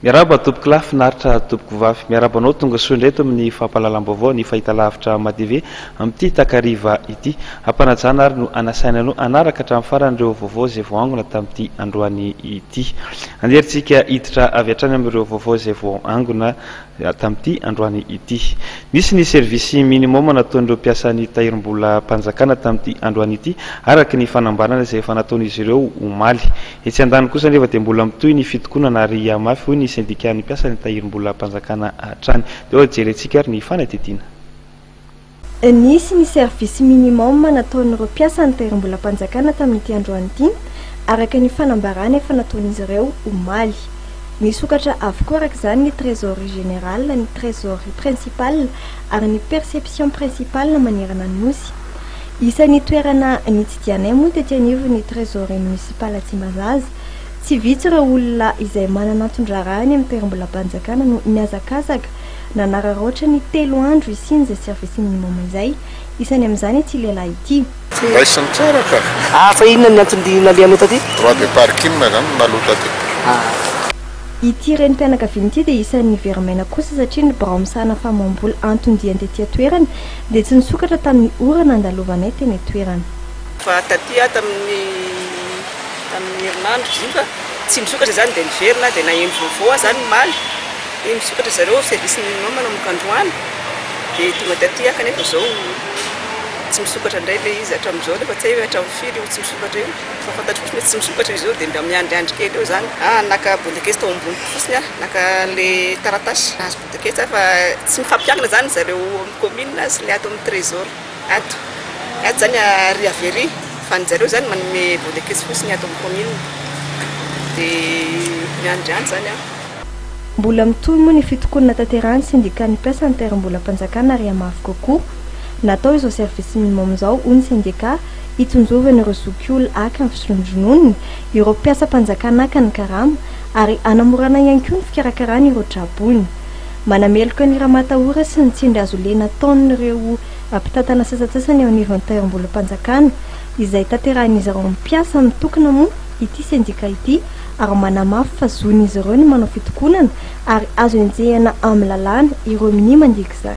Miarahaba tompokolahy finaritra tompokovavy. Miarahaba anao tonga soa indray eto amin'ny fampahalalam-baovao ny Fahitalavitra Matv amin'ity takariva ity. Hampanajana ary no hanasaina anao hanaraka hatramin'ny farany ireo vaovao izay vao angona tamin'ity androany ity. Anjerintsika hiditra avy hatrany amin'ireo vaovao izay vao angona tamin'ity androany ity. Nisy ny service minimum nataon'ireo mpiasan'ny Tahirimbolam-panjakana tamin'ity androany ity araka ny fanambarana izay efa nataon'izy ireo omaly. Etsy andaniny kosa anefa dia mbola mitohy ny fitokonana ary hihamafy, hoy ny sendikàn'ny mpiasan'ny tahirimbolam-panjakana hatrany. Dia oa jerentsika ary ny fanadihadiana. Nisy ny service minimum nataon'ireo mpiasan'ny tahirimbolam-panjakana tamin'ity androany ity, araka ny fanambarana efa nataon'izy ireo omaly. Misokatra avokoa araka izany ny trésorerie générale, ny trésorerie principale ary ny perception principale manerana ny Nosy. Isan'ny toerana nitsidihanay moa tety anivon'ny Trésorerie Municipale Tsimbazaza. Tsy vitsy ireo olona izay manana anton-draharaha any amin'ny toeram-bolam-panjakana no nihazakazaka nanararaotra ny telo andro hisian'izay service minimum izay. Isany amin'izany ity lehilahy ity. Tsy noraisiny tsara ka. Ah, fa inona ny antony nalehanao taty? Droit de parking izany no naloa taty. Ah. Ity renim-pianakaviana ity dia isan'ny very maina kosa satria ny birao misahana famoaham-bola anton-diany tety an-toerana, Dia tsy nisokatra tamin'ny ora nandalovanay teny an-toerana. Fa taty aho tamin'ny tamin'ny herinandro izy io ka tsy nisokatra izany dia niverina dia naheno vaovao aho izany omaly hoe misokatra zareo service minimum manomboka androany dia tonga taty aho kanefa izao tsy misokatra indray ilay izy hatramin'izao nefa tsy hay hoe hatramin'ny firy io tsy misokatra io fa fantatro fotsiny hoe tsy misokatra izy io dia mba miandriandry kely eo izany, ah naka bondakesy tao amboniko fotsiny aho, naka ilay taratasy. Toketsa fa tsy mifampiankina zany zareo amin'ny commune sy le ato amin'ny trésor ato, ato zany ary avery fa ny zareo zany manome voleketsy fotsiny ato amin'ny commune de miandry any zany aho. Mbola mitohy moa ny fitokonana natanterahan'ny sendikan'ny mpiasa ny taeram-bolam-panjakana ary hamafy kokoa ny atao izao service minimum izao hoy ny sendika hitsinjovana ireo zokiolona haka ny fisondrononony ireo mpiasam-panjakana haka ny karama ary hanamorana ihany koa ny fikarakarana ireo tra-boina. Manameloka ny ramatahora sy ny tsindrihazolena ataon'ireo mpitantana sasantsasany eo anivon'ny Tahirimbolam-panjakana, izay tanterahin'izy ireo mpiasa mitokona moa ity sendika ity ary manamafy fa zon'izy ireo ny manao fitokonana ary azo enjehina amin'ny lalàna ireo minia mandika izany.